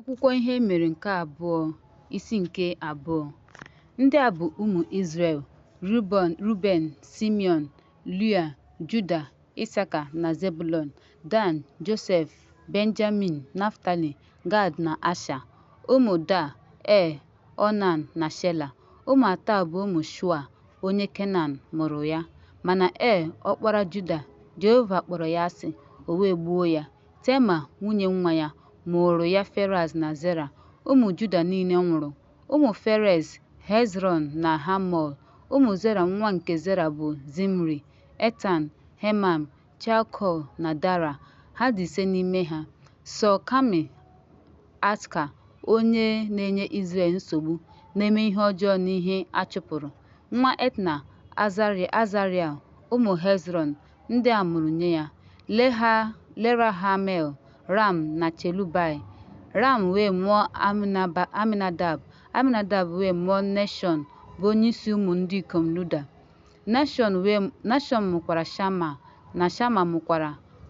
Akwụkwọ Ihe E Mere nke Abụọ, Isi nke Abụọ Ndị a bụ ụmụ Izrel, Ruben, Ruben, Simeon, Lia, Juda, Isaka na Zebulon, Dan, Josef, Benjamin, Naftali, Gad na Asha. Ụmụ Da, Er, Onan na Shela. Ụmụ atọ a bụ ụmụ Shua, onye Kenan, mụrụ ya. Mana Er, ọkpara Juda, Jehova kpọrọ ya asị, o wee gbuo ya. Tema, nwunye nwa ya, mụụrụ ya Ferez na Zera. Ụmụ Juda niile nwụrụ. Ụmụ Ferez, Hezrọn na Hamul. Ụmụ Zera nwa nke Zera bụ Zimri, Etan, Hemam, Chalkol na Dara. Ha dị ise n'ime ha. Sọ Kami, Atka, onye na-enye Izrel nsogbu, na-eme ihe ọjọọ n'ihe a chụpụrụ. Nwa Etna, Azariel. Ụmụ Hezrọn, ndị a mụrụ nye ya, Leha, Lerahamel, Ram na Chelubai. Ram wee mụọ Aminadab, Aminadab wee mụọ Nashọn bụ onyeisi ụmụ ndị ikom Luda. Nashọn mụkwara Shama, na Shama mụkwara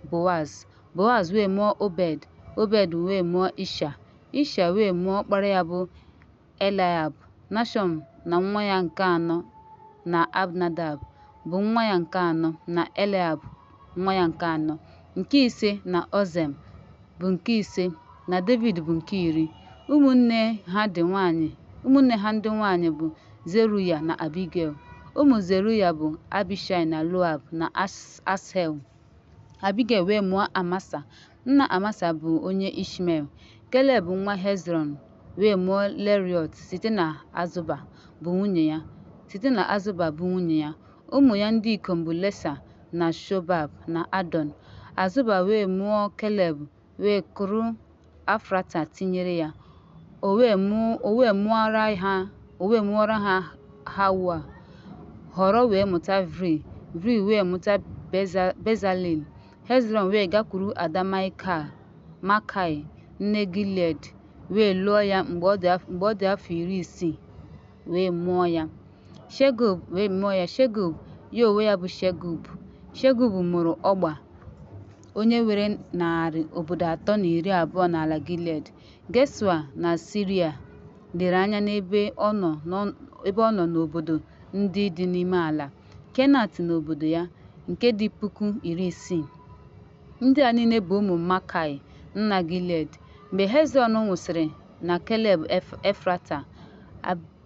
Boaz. Boaz wee mụọ Obed, Obed wee mụọ Isha. Isha wee mụọ ọkpara ya bụ Eliab, Nashọn na nwa ya nke anọ, na Abnadab, bụ nwa ya nke anọ, na Eliab, nwa ya nke anọ, nke ise, na Ozem, bụ nke ise, na Devid, bụ nke iri. Ụmụnne ha ndị nwanyị ụmụnne ha ndị nwanyị bụ Zeruya na Abigel. Ụmụ Zeruya bụ Abishai na Loab na Ashel. Abigel wee mụọ Amasa. Nna Amasa bụ onye Ishmel, Keleb nwa Hezrọn wee mụọ Leriọt site na Azụba bụ nwunye ya. Site na Azụba bụ nwunye ya, ụmụ ya ndị ikom bụ Lesa na Shobab na Adọn. Azụba wee mụọ Keleb wee kụrụ Afrata tinyere ya. O wee mụọ o wee mụọra ha o wee mụọra ha Hawa. Họrọ wee mụta Vri, Vri wee mụta Beza, Bezalel. Hezrọn wee gakwuru ada Maịkal, Makai, nne Gilead, wee lụọ ya mgbe ọ dị afọ iri isii, wee mụọ ya Shegub, wee mụọ ya Shegub, ya onwe ya bụ Shegub. Shegub mụrụ Ọgba, onye nwere narị obodo atọ na iri abụọ n'ala Gilead. Geshua na Siria lere anya n'ebe ọ nọ n'obodo ndị dị n'ime ala. Kenat na obodo ya, nke dị puku iri isii. Ndị a niile bụ ụmụ Makai, nna Gilead. Mgbe Hezrọn nwụsịrị na Keleb Efrata,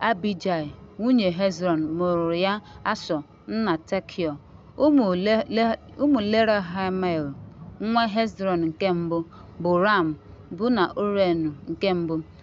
Abijai, nwunye Hezrọn, mụụrụ ya Ashọ, nna Tekiọ. Ụmụ Lerahamel, nwa Hezrọn nke mbụ, bụ Ram, Buna, Orenu nke mbụ.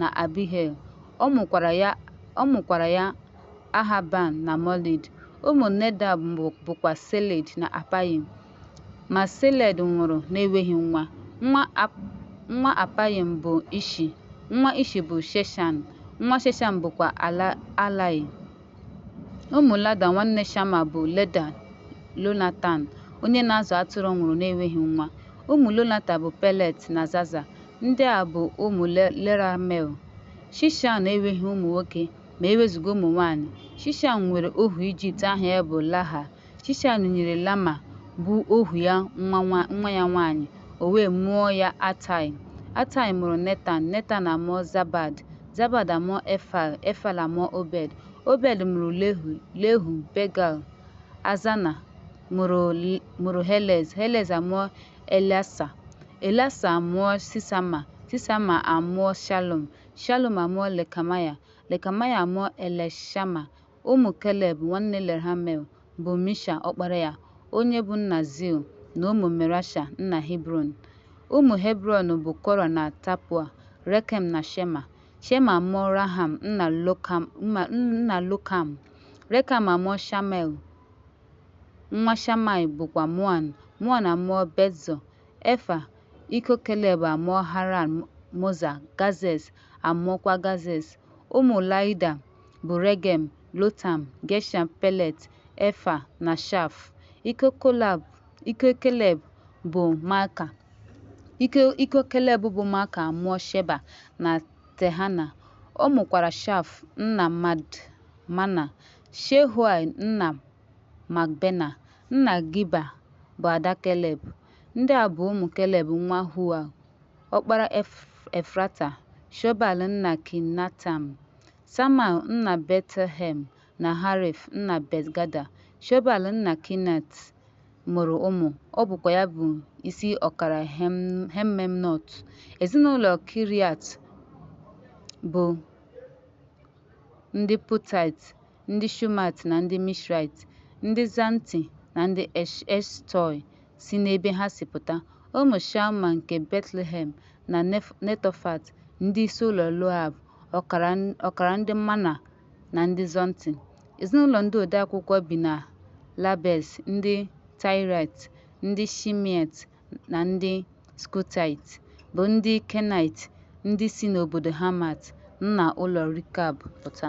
na Abihail. Ọ mụkwara ya ọ mụkwara ya Ahaban na Molid. Ụmụ Nedab bụ bụkwa Seled na Apayim. Ma Seled nwụrụ na-enweghị nwa. Nwa Ap nwa Apayim bụ Ishi. Nwa Ishi bụ Sheshan. Nwa Sheshan bụkwa Ala Alai. Ụmụ Lada nwanne Shama bụ Leda, Lonatan, onye na-azụ atụrụ nwụrụ na-enweghị nwa. Ụmụ Lonatan bụ Pelet na Zaza. Ndị a bụ ụmụ Leramel. Shishan enweghị ụmụ nwoke ma e wezụga ụmụ nwaanyị. Shishan nwere ohu Ijipt aha ya bụ Laha. Shishan nyere Lama, bụ ohu ya nwa nwa nwa ya nwanyị, o wee mụọ ya Atai. Atai mụrụ Netan, Netan amụọ Zabad, Zabad amụọ Efal, Efal amụọ Obed. Obed mụrụ Lehu, Lehu, Begal, Azana mụrụ mụrụ Helez, Helez amụọ Eleasa, Eleasa amụọ Sisama, Sisama amụọ Shalum, Shalum amụọ Lekamaya, Lekamaya amụọ Elishama, Ụmụ Keleb nwanne Lerhamel bụ Misha ọkpara ya, onye bụ nna Zil, na ụmụ Merasha nna Hebrọn. Ụmụ Hebrọn bụ Kora na Tapua, Rekem na Shema. Shema amụọ Raham nna Lokam, nna Lokam. Rekem amụọ Shamel, nwa Shamai bụkwa Moan. Moan amụọ Betzọ. Efa, iko Keleb amụọ Haran, Moza, Gazez amụọkwa Gazez. Ụmụ Laida bụ Regem, Lotam, Gesham, Pelet, Efa, na Shaf. Iko Kolab, iko Keleb bụ Maaka. Iko iko Keleb bụ Maaka amụọ Sheba na Tehana. Ọ mụkwara Shaf nna Madmana, Shehuai nna Makbena, nna Giba bụ ada Keleb. Ndị a bụ ụmụ Keleb nwa Hua, ọkpara Ef- Efrata, Shobal nna Kinatam, Samal nna Betlehem na Harif nna Betgada, Shobal nna Kinat mụrụ ụmụ, ọ bụkwa ya bụ isi ọkara Hemmemnọt. Ezinụlọ Kiriat bụ ndị Putait ndị Shumat na ndị Mishraịt, ndị Zanti na ndị Eshtọị si n'ebe ha si pụta, ụmụ Shalma nke Betlehem na Netofat, ndị isi ụlọ Loab, ọkara ndị Mana na ndị Zonti. Ezinụlọ ndị odeakwụkwọ bi na Labes, ndị Taịraịt, ndị Shimeat na ndị Skutaịt, bụ ndị Kenaịt, ndị si n'obodo Hamat, nna ụlọ Rikab, pụta.